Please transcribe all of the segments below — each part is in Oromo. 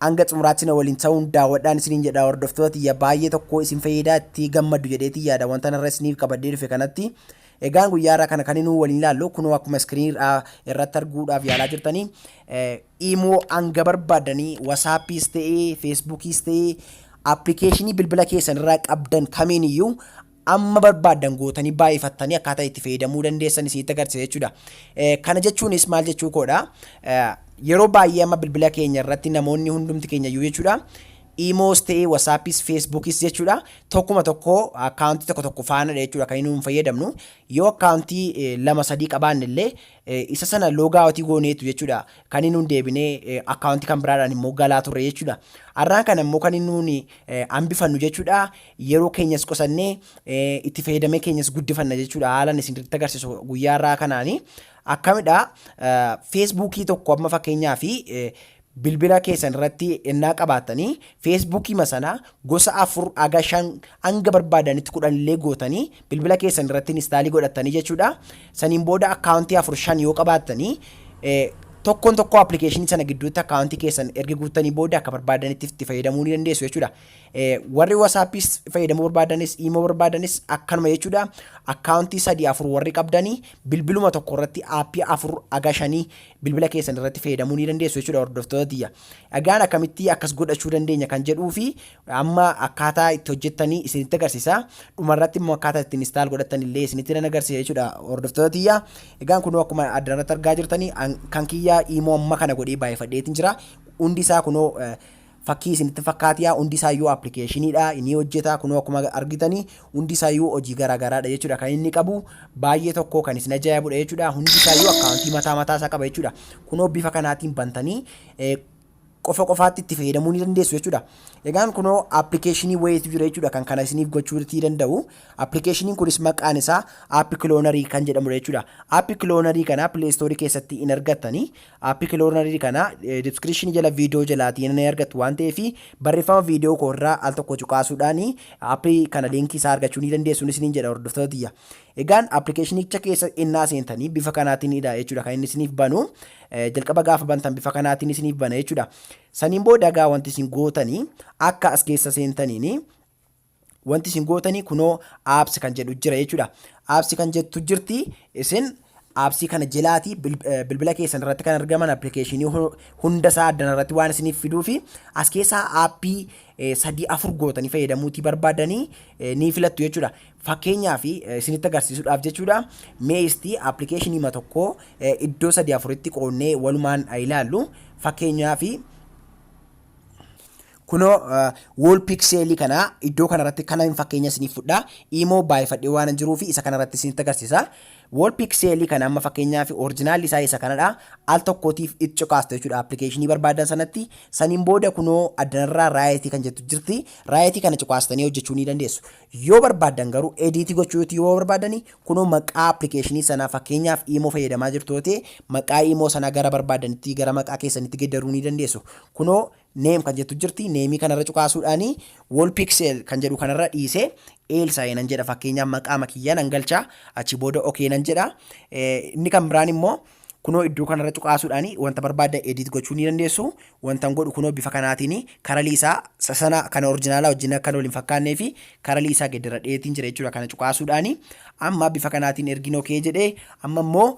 Hanga xumuraatti na waliin ta'uun daawwadhaan isiniin jedha hordoftoota tiyya baay'ee tokko isin fayyadaa itti gammaddu jedheetiin yaada wanta narra isiniif qabadhee dhufe kanatti egaan guyyaa irraa kana kan inni waliin ilaallu kunoo akkuma iskiriinii irraa irratti arguudhaaf yaalaa jirtanii imoo hanga barbaadanii wasaappiis ta'ee feesbuukiis ta'ee appilikeeshinii bilbila keessan irraa qabdan kamiin iyyuu amma barbaaddan gootanii baay'ifattanii akkaataa itti fayyadamuu dandeessan isinitti agarsiisa jechuudha. Kana jechuunis maal jechuu koodha? Yeroo baay'ee amma bilbila keenya irratti namoonni hundumti keenya iyyuu jechuudha. Imoos ta'ee wasaapis feesbuukis jechuudha. Tokkuma tokko akkaawuntii tokko tokko faanadha jechuudha kan inni nuun fayyadamnu. Yoo akkaawuntii lama sadii qabaanne illee isa sana loogaawutii gooneetu jechuudha. Kan inni nuun deebinee akkaawuntii kan biraadhaan immoo galaa turre jechuudha. Har'aan kana immoo kan inni nuun hambifannu jechuudha. yeroo keenyas qusannee itti fayyadamee keenyas guddifanna jechuudha haalan isinitti agarsiisu guyyaa irraa kanaani akkamidha feesbuukii tokko amma fakkeenyaa fi bilbila keessan irratti ennaa qabaattanii feesbuukii masana gosa afur aga shan hanga barbaadanitti kudhan illee gootanii bilbila keessan irratti inistaalii godhattanii jechuudha saniin booda akkaawuntii afur shan yoo qabaattanii tokkoon tokkoo appilikeeshinii sana gidduutti akkaawuntii keessan erga guuttanii booda akka barbaadanitti itti fayyadamuu ni dandeessu jechuudha. Warri wasaappiis fayyadamuu barbaadanis iimoo barbaadanis akkanuma jechuudha. Akkaawuntii sadii afur warri qabdanii bilbiluma tokko irratti aappii afur haga shanii bilbila keessan irratti fayyadamuu ni dandeessu jechuudha hordoftoota tiyya. Egaan akkamitti akkas godhachuu dandeenya kan jedhuu fi amma akkaataa itti hojjettanii isinitti agarsiisa. Dhuma irratti immoo akkaataa ittiin instaal godhattan illee isinitti nan agarsiisa jechuudha hordoftoota tiyya. Egaan kunoo akkuma adda irratti argaa jirtanii kan kiyyaa iimoo amma kana godhee baay'ifadheetiin jira. Hundi isaa kunoo Fakkii isinitti fakkaatiyaa hundi isaayyuu applicationidha inii hojjetaa kunoo akkuma argitanii hundi isaayyuu hojii garaa garaadha jechuudha kan inni qabu baay'ee tokko kan isin ajaa'ibudha jechuudha hundi isaayyuu akkaawuntii mataa mataa isaa qaba jechuudha kunoo bifa kanaatiin bantanii qofa qofaatti itti fayyadamuu ni dandeessu jechuudha. Egaan kunoo appilikeeshinii wayiitu jira jechuudha kan kana isiniif gochuu itti danda'u. Appilikeeshiniin kunis maqaan isaa app kiloonarii kan jedhamudha jechuudha. App kiloonarii kana pileestoorii keessatti hin argattanii App cloner kana description jala video jalaati ni argattu waan ta'eef barreeffama video koo irraa al tokko cuqaasuudhaan app kana linkii isaa argachuu ni dandeessu isiniin jedha hordoftoota tiyya. Egaan appilikeeshinicha keessa innaa seentanii bifa kanaatiin dha jechuudha kan inni isiniif banu jalqaba gaafa bantan bifa kanaatiin isiniif bana jechuudha. Saniin booda egaa wanti isin gootanii akka as keessa seentaniin wanti isin gootanii kunoo apps kan jedhu jira jechuudha. Apps kan jettu jirti isin appsii kana jelaati bilbila keessan irratti kan argaman appilikeeshinii hunda isaa addan irratti waan isiniif fiduu fi as keessaa aappii sadii afur gootanii fayyadamuutii barbaadanii ni filattu jechuudha. Fakkeenyaaf isinitti agarsiisuudhaaf jechuudha meestii appilikeeshinii ma tokko iddoo sadii afuritti qoonnee walumaan ilaallu fakkeenyaaf Kunoo wall pixel kana iddoo kanarratti kanan fakkeenya isiniif fudha. Imo baay'ifadhee waan jiruufi isa kanarratti isinitti agarsiisa. Wall pixel kana amma fakkeenyaaf original isaa isa kanadha. Al tokkootiif itti cuqaastu jechuudha application barbaadan sanatti. Saniin booda kunoo addanarraa right kan jettu jirti. Right kana cuqaastanii hojjechuu ni dandeessu. Yoo barbaadan garuu edit gochuu yoo barbaadani kunoo maqaa application sanaa fakkeenyaaf imo fayyadamaa jirtu yoo ta'e maqaa imo sanaa gara barbaadanitti gara maqaa keessanitti geddaruu ni dandeessu. Kunoo Name kan jettu jirti. Name kanarra cuqaasuudhaan wall pixel kan jedhu kanarra dhiisee Elsae nan jedha fakkeenyaaf maqaama kiyya nan galcha achi booda okay nan jedha. Inni kan biraan immoo kunoo iddoo kanarra cuqaasuudhaan wanta barbaadda edit gochuu ni dandeessu. Wantan godhu kunoo bifa kanaatiin karalii isaa sana kana orjinaalaa wajjin akka wal hin fakkaannee fi karalii isaa gedderadheetiin jira jechuudha kana cuqaasuudhaan. Amma bifa kanaatiin ergin okay jedhee amma immoo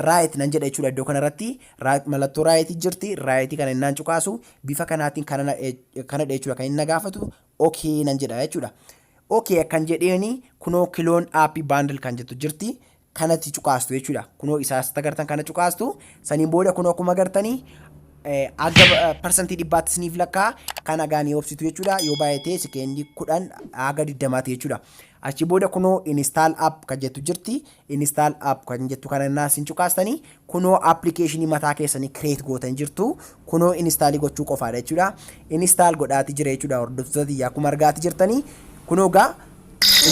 Right nan jedha jechuudha iddoo kanarratti right mallattoo right jirti right kana innaan cuqaasu bifa kanaatiin kana na- eh, kanadha jechuudha kan inni na gaafatu okay nan jedha jechuudha. Okay kan jedheeni kunoo kiloon aappii baandil kan jettu jirti kanatti cuqaastu jechuudha kunoo isaas tagartan kana cuqaastu saniin booda kunoo akkuma gartanii eh, aga eh, parsantii dhibbaatti isiniif lakkaa kan agaan ni obsitu jechuudha yoo baay'atee sekeendii kudhan haga digdamaati jechuudha achi booda kunoo install app kan jettu jirti Install app kan jettu kana innaa isin cuqaastanii kunoo application mataa keessanii create gootan jirtu kunoo install gochuu qofaadha jechuudha. Install godhaati jira jechuudha hordoftoota tiyya akkuma argaati jirtanii kunoo gaa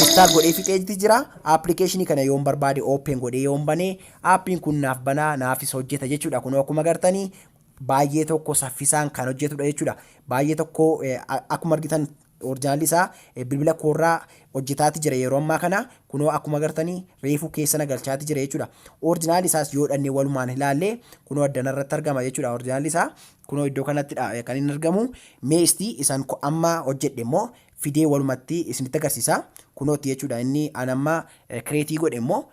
install godhee fixeeti jira application kana yoon barbaade open godhee yoon banee appiin kun naaf banaa naafis hojjeta jechuudha kunoo akkuma gartanii baay'ee tokko saffisaan kan hojjetudha jechuudha. Baay'ee tokko akkuma argitan Orjinaalli isaa bilbila koorraa hojjetaati jira yeroo ammaa kana. Kunoo akkuma agartani reefuu keessa na galchaati jira jechuudha. Orjinaalli isaas yoo dhannee walumaan ilaalle kunoo addana irratti argama jechuudha orjinaalli isaa. Kunoo iddoo kanattidha kan inni argamu. Mee isti isan amma hojjedhe immoo fidee walumatti isinitti agarsiisa. Kunootti jechuudha inni an amma kireetii godhe immoo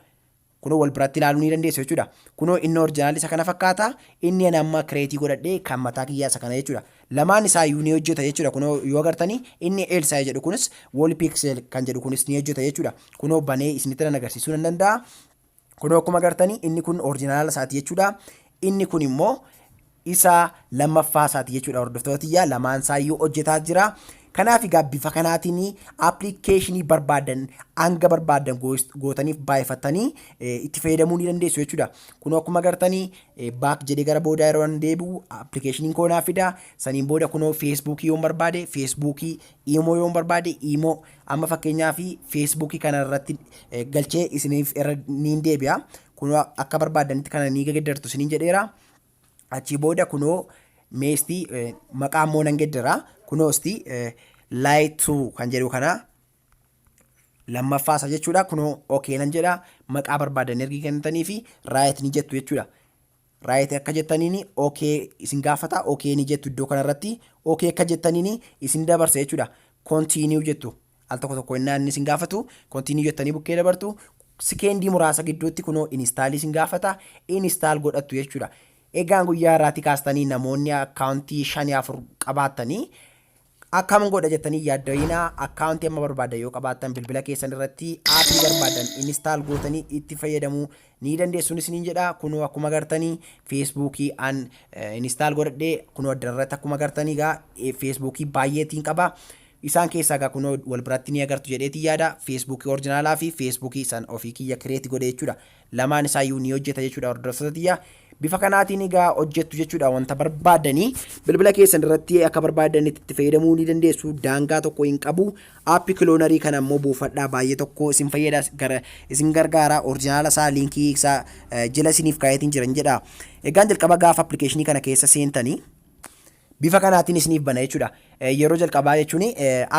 Kunoo wal biratti ilaaluu ni dandeessu jechuudha. Kunoo inni orjinaalli isa kana fakkaata, inni ani amma kireetii godhadhe kan mataa kiyyaa isa kana jechuudha. Lamaan isaa iyyuu ni hojjeta jechuudha. Kunoo yoo agartanii inni Elsaay jedhu kunis wall pixel kan jedhu kunis ni hojjeta jechuudha. Kunoo banee isinitti nan agarsiisuu nan danda'a. Kunoo akkuma agartanii inni kun orjinaala isaati jechuudha. Inni kun immoo isa lammaffaa isaati jechuudha hordoftoota tiyyaa lamaan isaayyuu hojjetaa jira. Kanaaf egaa bifa kanaatiin appilikeeshinii barbaadan hanga barbaadan gootaniif baay'ifattanii itti fayyadamuu ni dandeessu jechuudha. Kun akkuma agartanii baak jedhee gara boodaa yeroo an deebi'u appilikeeshiniin koo naaf fida. Saniin booda kunoo feesbuukii yoon barbaade feesbuukii iimoo yoon barbaade iimoo amma fakkeenyaaf feesbuukii kana irratti galchee isiniif irra niin deebi'a. Kunoo akka barbaadanitti kana ni gaddartu isiniin jedheera. Achii booda kunoo meestii maqaa immoo nan geddera. Kunoo isti light to kan jedhu kana lammaffaa isa jechuudha. Kunoo okay nan jedha maqaa barbaadan ergi kennitanii fi right ni jettu jechuudha. Right akka jettaniin okay isin gaafata okay ni jettu iddoo kanarratti okay akka jettaniin isin dabarsa jechuudha. Continue jettu Al tokko tokko innaa inni isin gaafatu continue jettanii bukkee dabartu. Sikeendii muraasa gidduutti kunoo install isin gaafata. Install godhattu jechuudha. Egaan guyyaa irraatii kaastanii namoonni akkaawuntii shanii afur qabaattanii akkam godha jettanii yaadda'ina akkaawuntii amma barbaadan yoo qabaattan bilbila keessan irratti aappii barbaadan install gootanii itti fayyadamuu ni dandeessuun isiniin jedha kunoo akkuma gartanii feesbuukii an install godhadhee kunoo addarratti akkuma gartanii gaa feesbuukii baay'eetiin qaba Isaan keessaa egaa kunoo wal biratti ni agartu jedheetiin yaada. Facebook orjinaalaa fi Facebook isan ofii kiyya create godhe jechuudha. Lamaan isaa iyyuu ni hojjeta jechuudha hordoftoota tiyya. Bifa kanaatiin egaa hojjettu jechuudha wanta barbaadanii bilbila keessan irratti akka barbaadanitti itti fayyadamuu ni dandeessu daangaa tokko hin qabu. Aappi kiloonarii kana immoo buufadhaa baay'ee tokko isin fayyada gara isin gargaara orjinaala isaa liinkii isaa eh, jila isiniif kaayetiin jiran jedha. Egaan jalqaba gaafa appilikeeshinii kana keessa seentanii Bifa kanaatiin isiniif bana jechuudha. Yeroo jalqabaa jechuun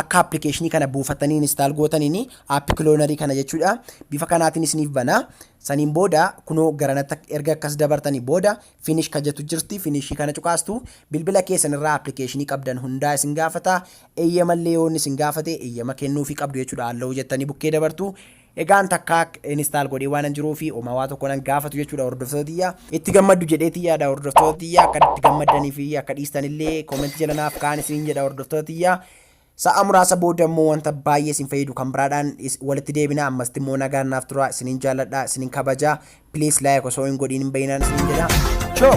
akka appilikeeshinii kana buufattanii install gootaniin app kiloonarii kana jechuudha. Bifa kanaatiin isiniif bana. Saniin booda kunoo garanatti erga akkas dabartanii booda finish kan jettu jirti. Finishii kana cuqaastu bilbila keessan irraa appilikeeshinii qabdan hundaa isin gaafata. Eeyyamallee yoon isin gaafate eeyyama kennuufii qabdu jechuudha. Alloo jettanii bukkee dabartu. Egaa an takkaa install godhee waanan jiruufi homaa waa tokko nan gaafatu jechuudha hordoftoota tiyya. Itti gammaddu jedheetii yaada hordoftoota tiyya akka itti gammaddanii fi akka dhiistanillee comment jala naaf kaan isiniin jedha hordoftoota tiyya. Sa'a muraasa booda immoo wanta baay'ee isin fayyadu kan biraadhaan is- walitti deebina ammasitti immoo nagaan naaf tura isiniin jaalladha isiniin kabaja please like osoo hin godhiin hin bayinaan isiniin jedha. Choo!